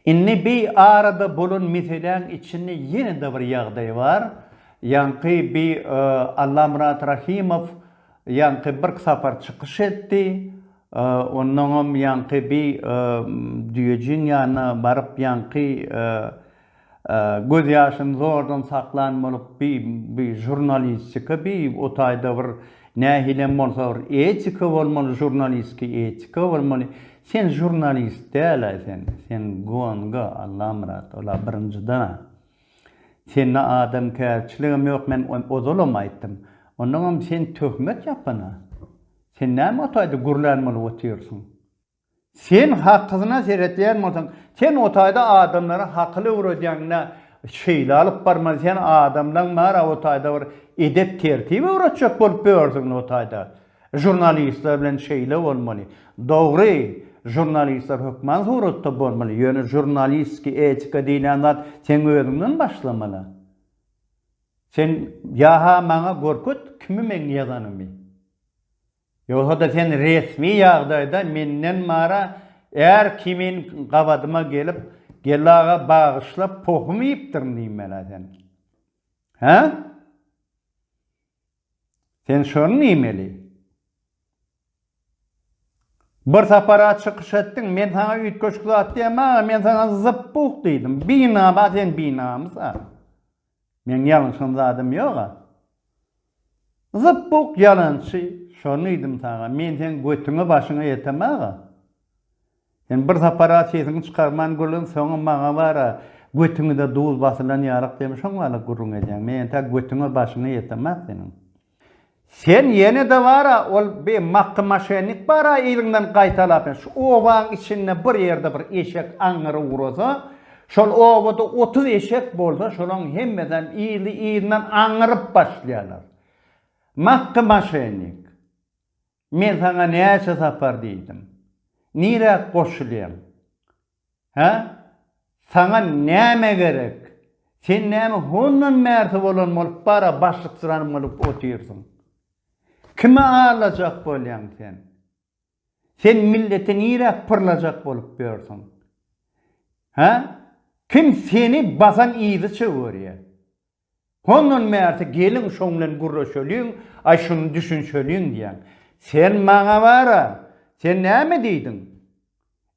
Indi bi arada bolan meseläň içinde ýene-de bir ýagdaý bar. Ýaňky bi Allamyrat Rahimow ýaňky birk sapar çykyş etdi. Onnoňam ýaňky bi düýejiň ýanyna baryp ýaňky Göz ýaşyny zordan saklan bolup bi bi žurnalistika bi o taýda bir nähilem bolsa bir etika bolmaly žurnalistki etika bolmaly sen žurnalist dälaý sen sen gonga Allamyrat ola birinjiden a sende adamkärçiligem ýok men ozalam aýtdym onnoňam sen töhmet ýapana sen näme o taýda gürlän bolup otyrsyň Sen hakysyna seretýän bolsaň, sen o taýda adamlara hakyl öwredýäňdä, şeýle alyp barmaly, sen adamlaň bära o taýda bir edep-tertip öwretjek bolup börsiňdä o taýda. Žurnalistler bilen şeýle bolmaly. Dogry, žurnalistler hökman suratda bolmaly, ýöne žurnalistki etika diýlen zat seň özüňden başlamaly. Sen ýa-ha maňa görket kimi meň ýazanymy. Ýogsa-da sen resmi ýagdaýda menden mara är kimin gabadyma gelip, Geldi aga, bagyşla, pohum iýipdirin diýmeli-ä sen. Hä? Sen şony diýmeli. Bir sapar-a çykyş etdiň, men saňa üýtgeşik zat diýemog-a, men saňa zyp-buh diýdim. Binama sen binamys-a. Meň ýalňyşan zadym ýoga. Zypbuk ýalançy şony diýdim saňa men seň götüňe başyňa ýetem aga. Sen bir sapara sesiňi çykarman gürlän soňam maňa bara götüňde duz basylan ýalyk diýem şoň wala gürrüň edýäň men ýentä götüňe başyňa ýetemak seniň. Sen ýene-de bar-a, ol bi Makdy maşennik bar-a yzyňdan gaýtalap, şu obaň içinde bir ýerde bir eşek aňňyry ugrasa, şol obada otuz eşek bolsa, şolaň hemmesem yzly-yzyndan aňňyryp başlaýarlar. Makdy maşennik. Men saňa näçe sapar diýdim. Nirä goşulýaň? Hä? Saňa näme gerek? Sen näme hondan bärsi bolan bolup bara başlyksyrany bolup otyrsyň? Kimi aldajak bolýaň sen? Sen milleti nirä pyrlajak bolup ýörsüň? Hä? Kim seni basan yzyça görýär? Hondan bärsi geliň şoň bilen gürleşeliň, aý şuny düşünşeliň diýýän. Sen maňa bar-a, sen näme diýdiň?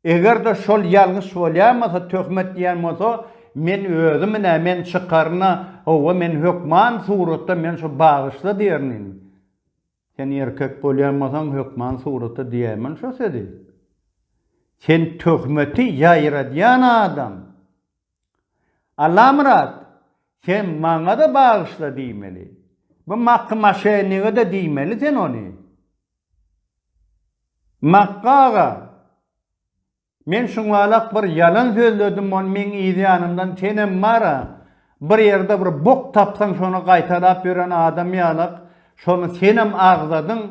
Eger-de şol ýalňyş bolýamasa, töhmet diýen bolsa, men özümün-ä, men çykaryn-a, hawa, men hökman suratda men şo bagyşla diýerin indi. Sen erkek bolýan bolsaň, hökman suratda diýäýmeli şo sözi. Sen töhmeti ýaýradýan adam. Allamyrat, sen maňa-da bagyşla diýmeli. Bu Makgy maşenniga-da diýmeli sen ony. Makgy aga, men şuňalak bir ýalan sözledim, ony meň yz ýanymdan senem bar-a, bir ýerde bir bok tapsaň şony gaýtalap ýören adam ýalak, şony senem agzadyň,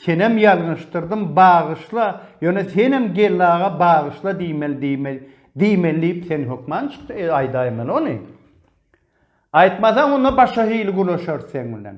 Senem ýalňyşdyrdym, bagyşla, ýöne senem geldi aga bagyşla diýmeli diýmeli diýmeli diýip sen hökman çykdy e aýdaýmaly ony. Aýtmasaň onda başga hili gürleşeris seň bilen.